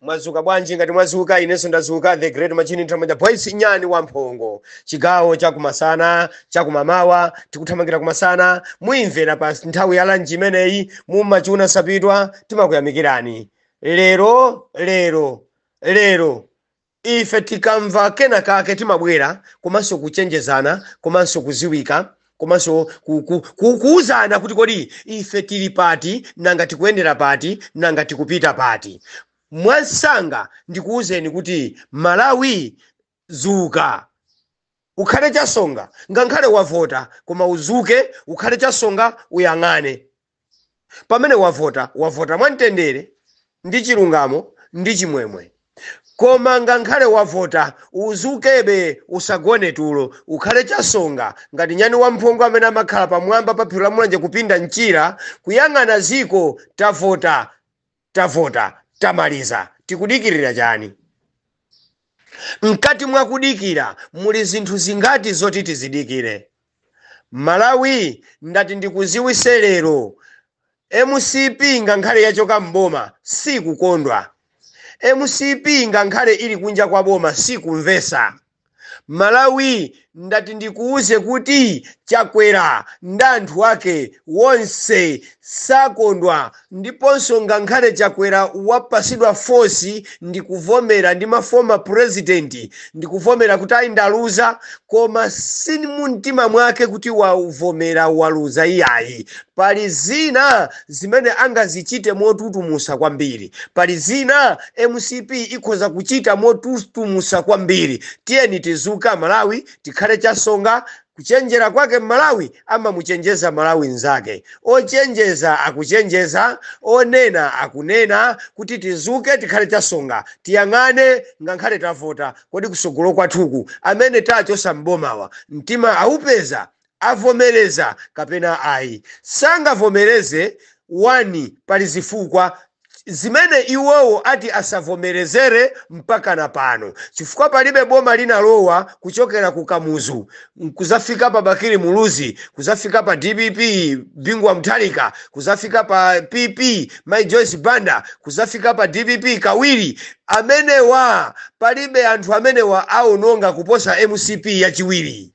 mwazuka bwanji ngati mwazuka inenso ndazuka the great machine nthamanja boys nyani wa mphongo chigawo chakumasana chakumamawa tikuthamangira kumasana muimvera pa nthawi ya lanji imeneyi mumachuna sapitwa timakuyamikirani lero lero lero ife tikamva kena kake timabwera komanso kuchenjezana komanso kuziwisa komanso ku- ku- ku- kuwuzana kuti kodi ife tili pati nanga tikuyendera pati nanga tikupita pati mwansanga ndikuwuzeni kuti malawi zuka ukhale chasonga ngakhale wavota koma uzuke ukhale chasonga uyang'ane Pamene wavota, wavota mwa mtendere ndi chilungamo ndi chimwemwe. Koma ngankhale wavota, uzukebe, usagone tulo, ukhale chasonga ngati nyani wamphongo amene amakhala pamwamba pa phiri la Mulanje kupinda mchira, kuyang'ana ziko, tavota. tavota tamaliza tikudikirira chani? mkati mwa kudikira muli zinthu zingati zoti tizidikire. malawi ndati ndikuziwise lero mcp ngankhale yachoka m'boma sikukondwa. mcp ngankhale ili kunja kwa boma sikumvesa. Malawi ndati ndikuuze kuti chakwera ndi anthu ake wonse sakondwa ndiponso ngankhale chakwera wapasidwa force ndikuvomera ndi ma former president ndikuvomera kuti ayi ndaluza koma si mumtima mwake kuti wavomera waluza iyayi pali zina zimene angazichite motutumusa kwambiri. Pali zina mcp ikhoza kuchita motutumusa kwambiri. Tiyeni tizuke amalawi tikhale chasonga. Kuchenjera kwake mmalawi amamuchenjeza mmalawi nzake. Ochenjeza akuchenjeza, onena akunena kuti tizuke tikhale chasonga. Tiyang'ane ngankhale tavota kodi kusogolo kwathuku amene tachosa mbomawa mtima awupeza? avomereza kapena ayi. Sangavomereze, 1 Pali zifukwa zimene iwowo ati asavomerezere mpaka na pano chifukwa palibe boma linalowa kuchokera ku Kamuzu kuzafika pa Bakili Muluzi, kuzafika pa dpp Bingu wa Mutharika, kuzafika pa PP Mayi Joyce Banda, kuzafika pa dpp kawiri. Amenewa palibe anthu amene awononga kuposa mcp yachiwiri.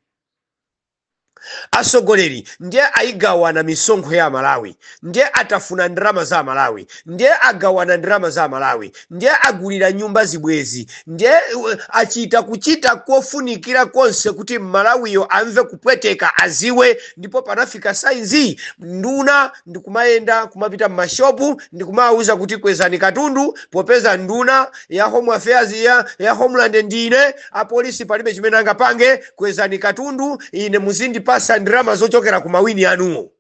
asogoleri ndiye ayigawana misonkho ya amalawi ndiye atafuna ndalama za amalawi ndiye agawana ndalama za amalawi ndiye agulira nyumba zibwezi ndiye uh, achita kuchita kofunikira konse kuti mmalawiyo amve kupweteka aziwe ndipo panafika saizi nduna ndikumayenda kumapita mmashopu ndikumawuza kuti kwezani katundu popeza nduna ya home affairs ya, ya homeland ndine apolisi palibe chimene angapange Kwezani katundu, ine muzindipasa ndalama zochokera ku mawini anuwo.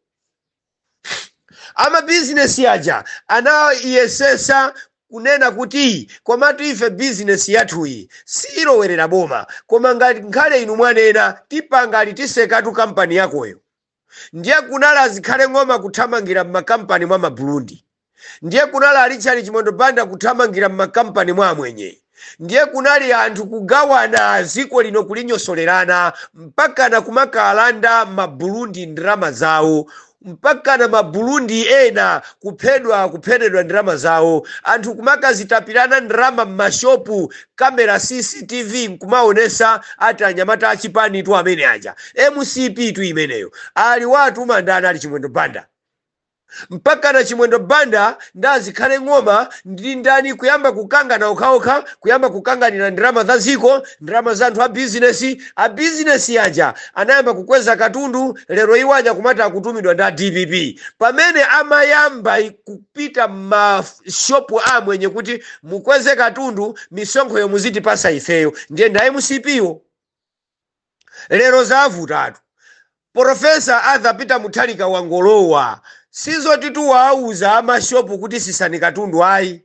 Amabizinesi aja anayesesa kunena kuti komatu ife bizinesi yathuyi siyilowerera boma, koma ngati nkhale inu mwanena tipanga, titsekatu kampani yakoyo. Ndiye kunali a Zikhale Ng'oma kuthamangira m'makampani mwa ma Burundi. Ndiye kunali a Richard Chimwendo Banda kuthamangira m'makampani mwa Amwenye. Ndiye kunali anthu kugawana dziko lino kulinyosolerana mpakana kumakalanda ma Burundi ndalama zawo mpakana ma Burundi ena kuphedwa kupheredwa ndalama zawo, anthu kumakazitapirana ndalama m'mashopu camera cctv nkumaonesa ati anyamata achipanitu amene aja mcp tu imeneyo aliwatuma ndani ali chimwendo banda mpakana chimwendo banda ndi a zikhale ng'oma ndi ndani kuyamba kukangana okhaokha kuyamba kukanganira ndalama za dziko ndalama za anthu a bizinesi a bizinesi aja anayamba kukweza katundu lero iwo aja kumati akutumidwa ndi a dpp pamene amayamba i- ku- pita mmashopu a amwenye kuti mukweze katundu misonkhoyo muzitipasa ifeyo ndiye ndi a mcp wo lero zavutatu profesa arthur peter mutharika wangolowa sizoti tu wawauza amashopu kuti sisani katundu ayi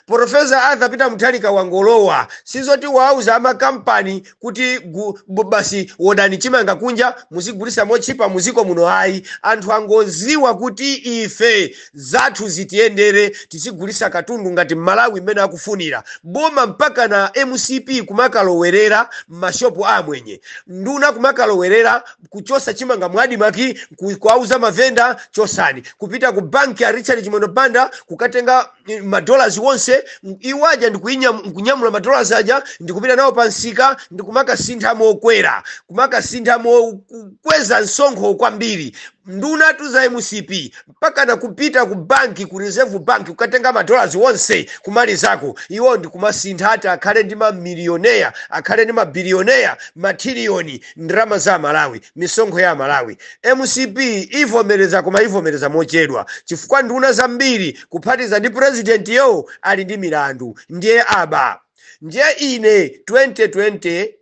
Profesa Arthur Peter Mutharika wangolowa sizoti wauza amakampani kuti gu, bu- basi wodani chimanga kunja muzigulisa motchipa muziko muno ayi anthu angoziwa kuti ife zathu zitiyendere tizigulisa katundu ngati mmalawi mmene akufunira boma mpaka na mcp kumakalowerera mmashopu a amwenye nduna kumakalowerera kuchosa chimanga mu admarc ku- kuwauza mavenda chosani kupita ku banki ya richard chimwendo banda kukatenga eh, madollars onse m- iwo aja ndikuinyam- kunyamula madollars aja ndikupita nawo pa msika ndikumakasintha mokwera kumakasintha mokweza msonkho kwambiri nduna tu za mcp mpakana kupita ku banki ku reserve bank kukatenga madollars onse kumalizako iwo ndi kumasintha ati akhale mamilioneya akhale mabilioneya matiliyoni ndalama za amalawi misonkho ya amalawi mcp ivomereza koma ivomereza mochedwa chifukwa nduna zambiri kuphatiza ndi purezidenti yo ali ndi milandu ndiye aba ndiye ine 2020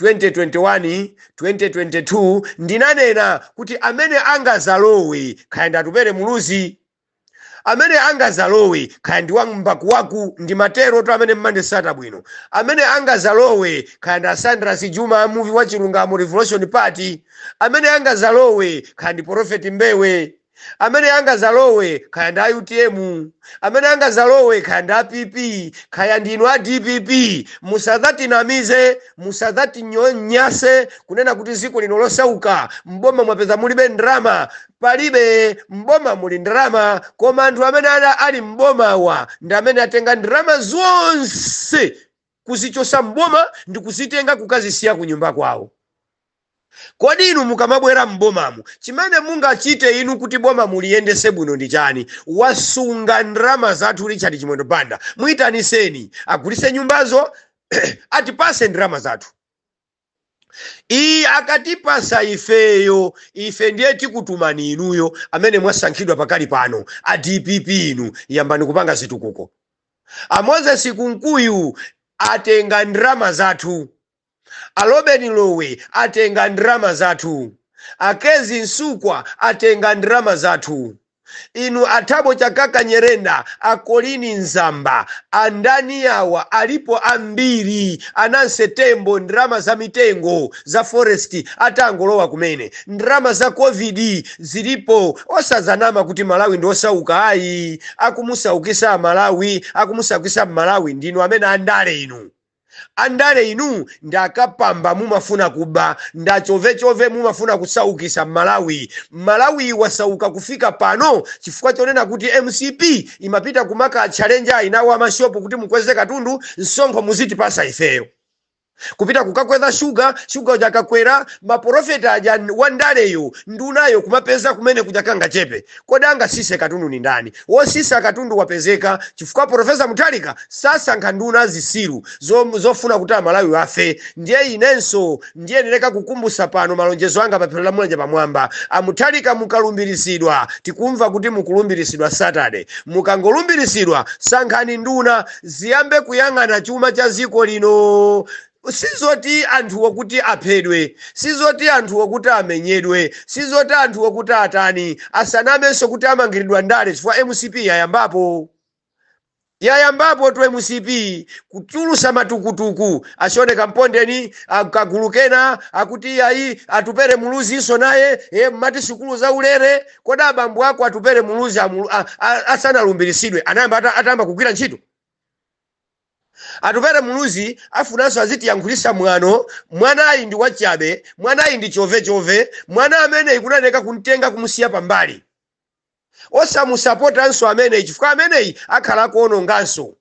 2021 2022 ndinanena kuti amene angazalowe khaya ndi atupere muluzi amene angazalowe khaya ndi wambakuwaku ndimatero to amene mmandisatira bwino amene angazalowe khaya ndi asandra sijuma amuvi wa chilungamo revolution party amene angazalowe khaya ndi profeti mbewe amene angazalowe khaya ndi a utm amene angazalowe khaya ndi a pp khaya ndinu a dpp musadzatinamize musadzatinyonyase kunena kuti ziko lino losauka mboma mwapeza mulibe ndrama palibe mboma muli ndrama koma anthu amene ana ali mbomawa ndi amene atenga ndrama zonse kuzichosa m'boma ndikuzitenga kukazisiya kunyumba kwawo kodi inu mukamabwera m'bomamu chimene mungachite inu kuti boma muliyendese bwino ndi chani wasunga ndrama zathu richard chimwendo banda muitaniseni agulise nyumbazo atipase ndrama zathu Iye akatipasa ifeyo, ife ndiye tikutumani inuyo amene mwasankhidwa pakali pano a dpp inu yambani kupanga zitukuko. A Moses Kunkuyu atenga ndrama zathu, a Lobin Lowe atenga ndrama zathu, a Kezzie Msukwa atenga ndrama zathu. Inu a Thabo Chakaka Nyirenda, a Colleen Zamba, a ndani awa alipo ambiri, a Nancy Tembo ndalama za mitengo za forest atangolowa kumene. Ndalama za Covid zilipo osazanama kuti Malawi ndi osauka ayi, akumusaukisa Malawi, akumusaukisa m'Malawi ndinu amene andale inu. Andale inu ndi akapamba mumafuna kuba ndi achovechove mumafuna kusaukisa Malawi. Malawi wasauka kufika pano chifukwa chonena kuti mcp imapita kumaka tchalenja aina a ma shop kuti mukweze katundu msonkho muzitipasa ifeyo. Kupita kukakweza sugar, sugar uja akakwera ma profit aja wandaleyo ndunayo kumapeza kumene kuja kangachepe. Kodi angasise katundu ndi ndani? Wosisa katundu wapezeka chifukwa Professor Mutharika sasankha nduna zisiru zofuna kuti amalawi afe ndiye inenso ndiyenereka kukumbusa pano malonjezo anga paphiri la Mulanje pamwamba Amutharika mukalumbirisidwa tikumva kuti mukulumbirisidwa Saturday mukangolumbirisidwa sankhani nduna ziyambe kuyang'ana chuma chaziko lino Sizoti anthuwo kuti aphedwe, sizoti anthuwo kuti amenyedwe, sizoti anthuwo kuti atani, asanamenso kuti amangiridwa ndale chifukwa mcp yayambapo. Yayambapotu mcp kutulusa matukutuku, a Sean Kampondeni, a kagulu kena akuti iyayi Atupele Muluzinso naye, ee mmati sukulu zaulere, kodi abambo ako Atupele Muluzi asanalumbiritsidwe anayamba ata, atayamba kugwira ntchito? Atupele Muluzi afunanso azitiyankhulisa mwano, mwanayi ndi wachabe, mwanayi ndi chove chove, mwana ameneyi kunayeneka kumtenga kumusiya pambali. Osamusapotanso ameneyi chifukwa ameneyi akhala akuononganso.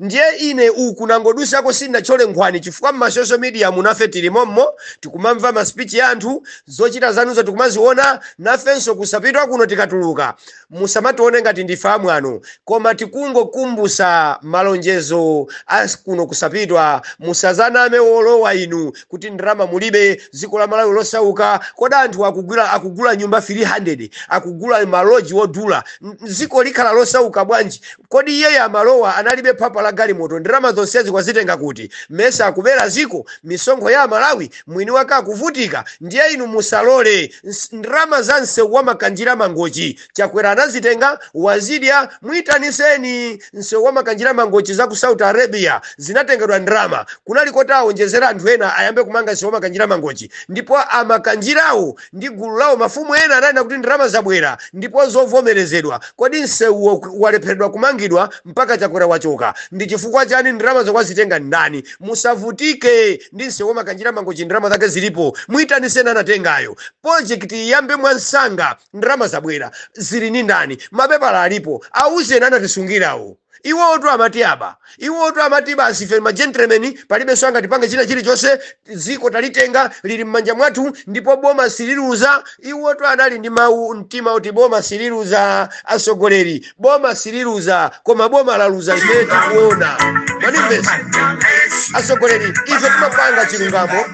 Ndiye ine uku nangodusako sindinatchole nkhwani chifukwa mma social mediamu nafe tili mommo, tikumamva ma speech a anthu, zochita zanuzo tikumaziona, nafenso kosapitwa kuno tikatuluka, musamatione ngati ndife amwano koma tikungokumbusa malonjezo a kuno kosapitwa musazaname olowa inu kuti ndalama mulibe dziko la malawi losauka kodi anthu akugula, akugula nyumba 300 akugula maloji odula N- dziko likhala losauka bwanji kodi iyeyu amalowa analibe phapha la galimoto ndalama zonsezi wazitenga kuti mesa akubera dziko misonkho ya amalawi mwini wake akuvutika ndiye inu musalole Ns- ndalama za msewu wa makanjira mangochi chakwera anazitenga wazidya muitaniseni msewu wa makanjira mangochi za ku saudi arabia zinatengedwa ndalama kunali koti a awonjezera anthu ena ayambe kumanga msewu wa makanjira mangochi ndipo amakanjirawo ndi gulu lawo. Mafumu ena ananena kuti ndalama zabwera ndipo zovomerezedwa. Kodi nsewu walepheredwa kumangidwa mpaka Chakwera wachoka? Ndi chifukwa chani ndalamazo wazitenga ndani? Musavutike ndi nsewu wa Makanjira Mangochi ndalama zake zilipo. Muitaniseni anatengayo. Project iyambe mwansanga. Ndalama zabwera. Zili ndi ndani? Mapepala alipo. Auzeni anatisungirawo. Iwotu amati aba. Iwotu amati basi ife ma gentlemen, palibenso angatipange china chilichonse, dziko talitenga, lili mmanja mwathu ndipo boma sililuza. Iwotu anali ndi mawu mtima oti boma sililuza. Atsogoleri, boma sililuza koma boma laluza ife tikuona. Mwandimvetsa? Atsogoleri, ife timapanga chilungamo.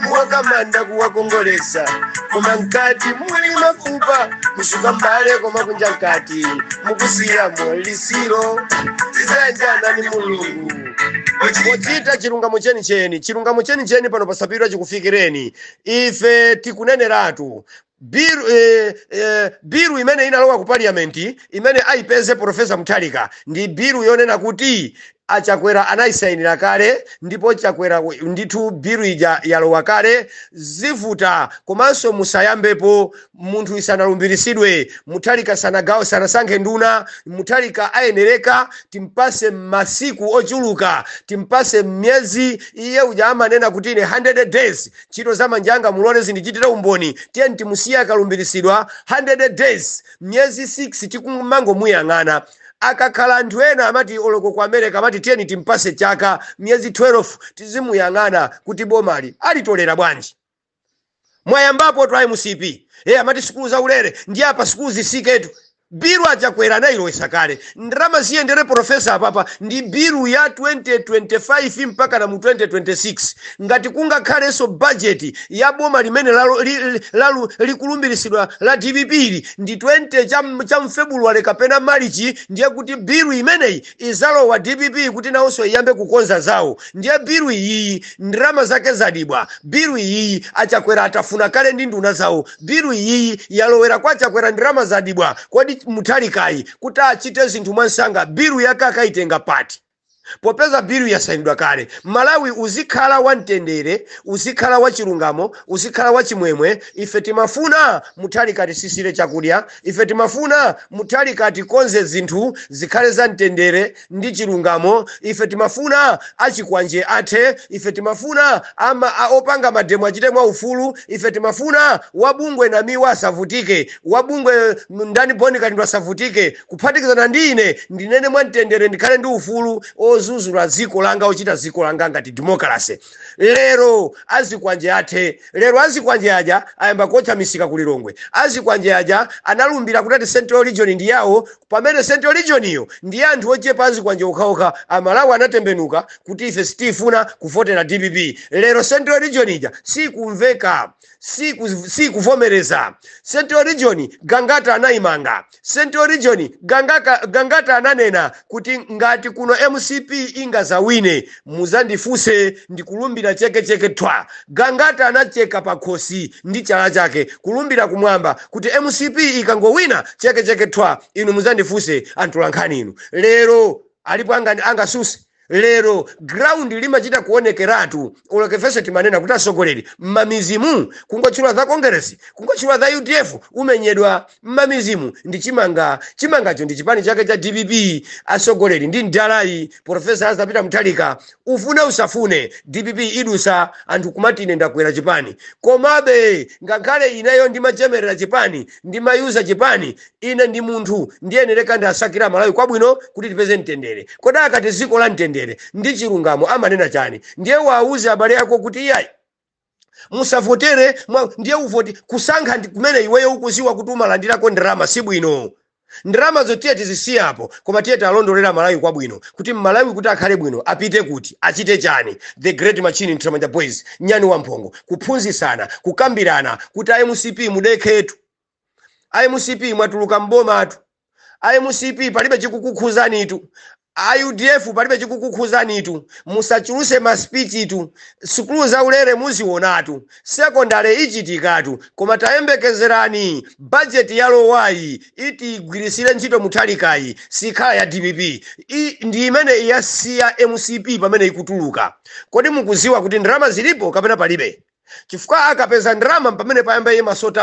mwaika manda kuwakongolesa koma mkati muli mafupa kusuka mbale koma kunja mkati mukusiyamo litsiro tizayanjana ni mulungu pochita chilungamo chenicheni chilungamo chenicheni pano posapilira chikufikireni ife tikuneneratu bill eh, eh, bill imene inalowa ku parliament imene aipeze profesa mutharika ndi bill yonena kuti achakwera anayisainira kale ndipo chakwera we- ndithu bill ija yalowa kale zivuta komanso musayambepo munthu asanalumbiritsidwe mutharika sanagawo sanasankhe nduna mutharika ayenereka timpase masiku ochuluka timpase myezi iye uja amanena kuti ine 100 days Ntchito za manja anga mulole zindichitire umboni. Tiyeni timusiye akalumbiritsidwa 100 days, miyezi 6 tikumangomuyang'ana. Akakhala anthu ena amati oloko ku America amati tiyeni timpase chaka, miyezi 12 tizimuyang'ana kuti bomali alitolera bwanji. Mwayambapotu a mcp. Ee amati sukulu zaulere ndiye apa sukulu zisiketu. Bill a Chakwera anayilowesa kale ndalama ziyendere professor apapa ndi bill ya 2025 mpakana mu 2026 ngati kungakhalenso budget ya boma limene likulumbilisidwa la dpp ndi 20 cha m- cha mfebuluwale kapena malichi ndiye kuti bill imeneyi izalowa dpp kuti nawonso iyambe kukonza zawo ndiye bill iyiyi ndalama zake zadibwa bill iyiyi achakwera atafuna kale ndi nduna zawo bilu iyiyi yalowera kwa chakwera ndalama zadibwa kodi muthalikayi kuti achite zinthu mwansanga bilu yake akayitenga pati popeza bilu yasayinidwa kale malawi uzikhala wamtendere uzikhala wachilungamo uzikhala wachimwemwe ife timafuna muthalika atisisire chakudya ife timafuna muthalika atikonze zinthu zikhale za mtendere ndi chilungamo, ife timafuna achikwanje athe, ife timafuna ama, a, opanga mademo achite mwaufulu, ife timafuna wabungwe Namiwa asavutike, wabungwe m- ndani Bon Kalindo asavutike, kuphatikizana ndi ine ndinene mwamtendere ndikhale ndi ufulu ozuzula dziko langa ochita dziko langa ngati demokalase. Lero azikwanje athe, lero azikwanje aja ayamba kuotcha misika ku Lilongwe, azikwanje aja analumbira kuti ati Central Region ndi yawo pamene central regioniyo ndiye anthu ochepa azikwanje okhaokha amalawi anatembenuka kuti ife sitifuna kuvotera dpp lero central region ija sikumveka siku- sikuvomereza central region gangata anayimanga central region gangata, gangata ananena kuti ngati kuno mcp ingazawine muzandifuse ndikulumbira cheke cheke thwa gangata anacheka pakhosi ndi chala chake kulumbira kumwamba kuti mcp ikangowina cheke cheke thwa inu muzandifuse antolankhani inu lero alipo anga- angasuse lero ground limachita kuonekeratu olokefese timanena kuti atsogoleri mmamidzimu kungotchula za congress kungotchula za udf umenyedwa mmamidzimu ndi chimanga chimangacho ndi chipani chake cha dpp atsogoleri ndi mdalayi profesa Arthur Peter muthalika ufune usafune dpp idusa anthu kumati ine ndakwera chipani komabe ngakhale ineyo ndimachemerera chipani ndimayuza chipani ine ndi munthu ndiyenereka ndasakire malawi kwabwino kuti tipeze mtendere kodi akati dziko la mtendere ndi chilungamo amanena chani ndiye wauze abale ako kuti iyayi musavotere mwa- ndiye uvoti kusankha ndi kumene iweyo ukuziwa kuti umalandirako ndalama si bwino ndalamazo tiye tizisiye apa koma tiye tialondolere malawi kwabwino kuti mmalawi kuti akhale bwino apite kuti achite chani the great machine mtramanja boys nyani wamphongo kuphunzisana kukambirana kuti a mcp mudekhetu a mcp mwatuluka m'bomatu a mcp palibe chikukukhuzanitu a udf palibe chikukukhuzanitu musachuluse maspichitu sukulu za ulere muzionatu sekondale ichitikatu koma tayembekezerani bajeti yalowayi iti igwirisire ntchito muthalikayi sikhala ya dpp I, ndi imene iyasiya mcp pamene ikutuluka kodi mukuziwa kuti ndalama zilipo kapena palibe chifukwa akapeza ndalama mpamene payamba iye masoti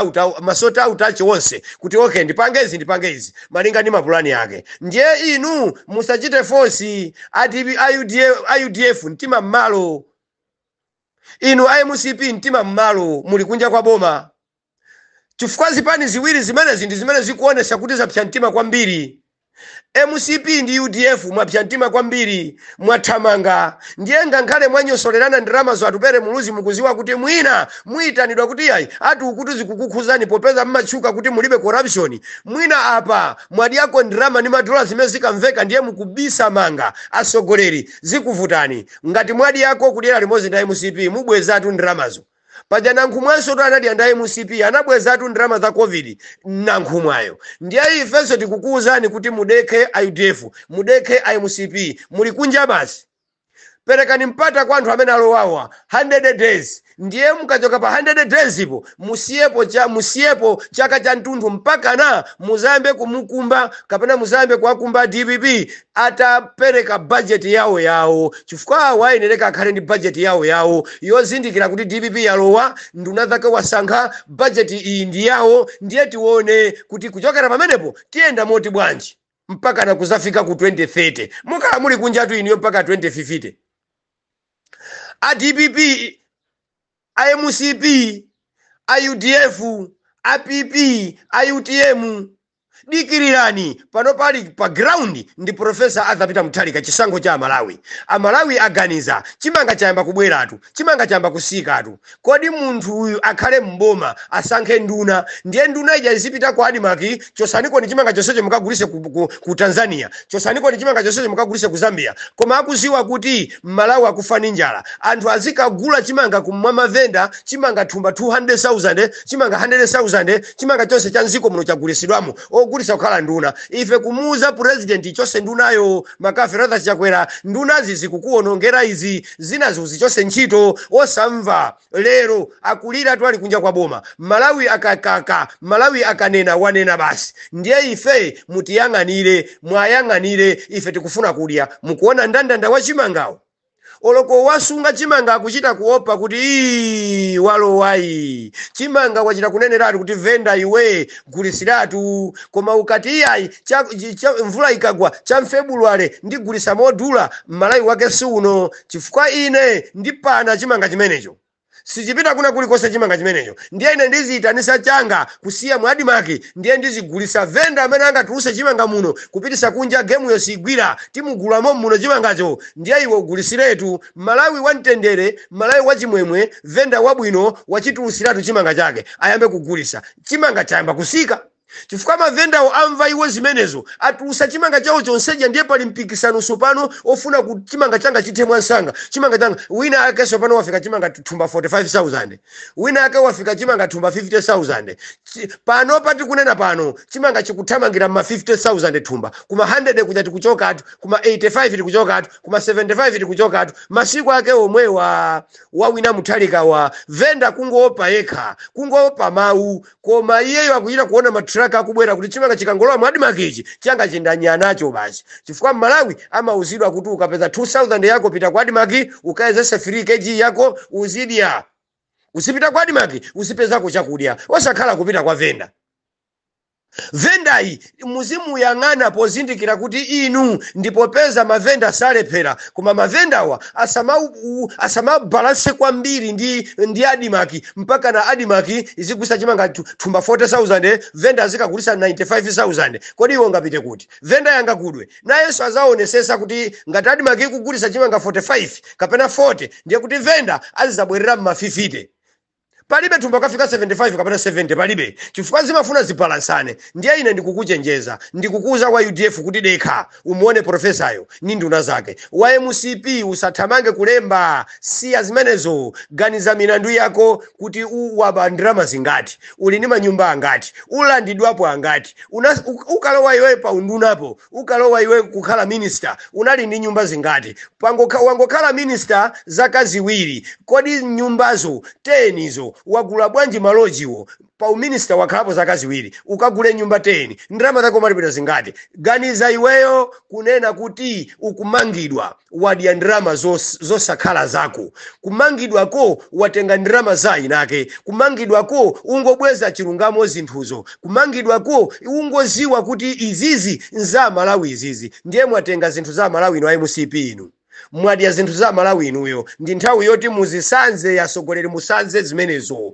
auti ache onse kuti okay ndipange izi ndipange izi malinga ndi mapulani ake ndiye inu musachite force ati a UDF mtima mmalo inu a mcp mtima mmalo muli kunja kwa boma chifukwa zipani ziwiri zimenezi ndi zimene zikuonesa kuti zapsa mtima kwambiri mcp ndi udf mwapsa mtima kwambiri mwathamanga ndiye ngakhale mwanyosolerana ndalamazo atupere muluzi mukuziwa kuti mwina muyitanidwa kuti yayi ati ukuti zikukukhuzani popeza mmatchuka kuti mulibe corruption mwina apa mwadyako ndalama ndi madola zimene zikamveka ndiye mukubisama ngati atsogoleri zikuvutani ngati mwadyako kudyera limodzi ndi mcp mubwezatu ndalamazo paja nankhumwansotu anadya ndi a mcp anabwezatu ndalama za covid nankhumwayo ndiye ifenso tikukuwuzani kuti mudekhe a udf mudekhe a mcp muli kunja basi perekani mpata kwa anthu amene alowawa 100 days ndiye mukachoka pa 100 days po musiyepo musiyepo chaka cha mtunthu mpakana muzayambe kumukumba kapena muzayambe kuwakumba dpp atapereka bajeti yawo yawo chifukwa awo ayenereka akhale ndi bajeti yawo yawo yozindikira kuti dpp yalowa nduna zake wasankha bajeti iyi ndi yawo ndiye tione kuti kuchokera pamenepo tiyenda motani bwanji mpaka na kuzafika ku 2030 mukhala muli kunjatu inuyo mpaka 2050 a dpp a mcp a udf a pp a utm dikirirani pano pali pa ground ndi profesa arthur peter mutharika chisankho cha amalawi amalawi aganiza chimanga chayamba kubweratu chimanga chayamba kusikatu kodi munthu uyu akhale mboma asankhe nduna ndiye nduna ija izipita ku adimaki chosanikoni chimanga chonsecho mukagulise ku tanzania chosanikoni chimanga chonsecho mukagulise ku zambia koma akuziwa kuti amalawi akufa ndi njala anthu azikagula chimanga kwa mavenda chimanga thumba 200000 chimanga 100000 chimanga chonse cha mdziko muno chagulisidwamo ogulisa kukhala nduna ife kumuuza president chose ndunayo mccarthy chakwera ndunazi zikukuonongera izi zina zo muzichose ntchito osamva lero akulira ali kunja kwa boma malawi akakaka malawi akanena wanena basi ndiye ife mutiyang'anire mwayang'anire ife tikufuna kudya mukuona ndandanda wa chimangawo Oloko wasunga chimanga akuchita kuopa kuti ii walowayi chimanga wachita kuneneratu kuti venda iwe gulisiratu koma ukati iyayi cha, cha, mvula ikagwa cha mfebuluwale ndigulisa modula malawi wake siuno chifukwa ine ndipana chimanga chimenecho. sichipita kuna kulikose chimanga chimenecho ndiye ine ndiziyitanisa changa kusiya mu admarc ndiye ndizigulisa venda amene angatuluse chimanga muno kupitisa kunja gemuyo siigwira timugula momuno chimangacho ndiye iwe ugulisiretu malawi wa mtendere malawi wa chimwemwe venda wabwino wachitulusiratu chimanga chake ayambe kugulisa chimanga chayamba kusika chifukwa mavendawo amva iwo zimenezo atulusa chimanga chawo chonseja ndiye pali mpikisano sopano ofuna kuti chimanga changa chithe mwansanga chimanga changa wina ake sopano wafika chimanga thumba 45000 wina ake wafika chimanga thumba 50000 Chi- pano pati kunena pano chimanga chikuthamangira mma 50000 thumba kuma 100 kuja tikuchokatu kuma 85 tikuchokatu kuma 75 tikuchokatu masiku ake omwewa a wina muthalika wa venda kungoopa yekha kungoopa mawu koma iyeyo akuchita kuona ma truck akubwera kuti chimanga chikangolowa mu admarc ichi changa chindanya nacho basi chifukwa mmalawi amauzidwa kuti ukapeza 2000 yako pita ku admarc ukayezese 3 kg yako uzidya uzipita ku admarc uzipezako chakudya osakhala kupita kwa venda venda ayi muzimuyang'ana pozindikira kuti inu ndi popeza mavenda salephera koma mavendawa asamabalanse kwambiri ndi, ndi adimaki mpaka na adimaki izigulisa chimanga thumba 40000 venda azikagulisa 95000 kodi iwo ngapite kuti venda anga akudwe nayenso azaonesesa kuti ngati adimaki ikugulisa chimanga 45 kapena 40 ndiye kuti venda azizabwerera m'mafifite palibe thumba ukafika 75 kapena 70 palibe chifukwa zimafuna zibalansane ndiye ine ndikukuchenjeza ndikukuuza wa udf kuti dekha umuone profesayo ni nduna zake wa mcp usathamange kulemba siya zimenezo ganiza milandu yako kuti u- waba ndalama zingati uli ndi manyumba angati ulandidwapo angati Una- u- ukalowa iweyo pa undunapo ukalowa iwe kukhala minister unali ndi nyumba zingati Pangokha, wangokhala minister zaka ziwiri kodi nyumbazo 10 izo wagula bwanji malojiwo pa uminister wakhalapo zaka ziwiri ukagule nyumba 10 ndalama zako umalipidwa zingati ganiza iweyo kunena kuti ukumangidwa wadya ndalama zos- zosakhala zako kumangidwako watenga ndalama za inake kumangidwako ungobweza chilungamo zinthuzo kumangidwako ungoziwa kuti izizi nza malawi izizi ndiye mwatenga zinthu za malawi inu a mcp inu mwadya zinthu za malawi inuyo ndi nthawi yoti muzisanze asogoleri musanze zimenezo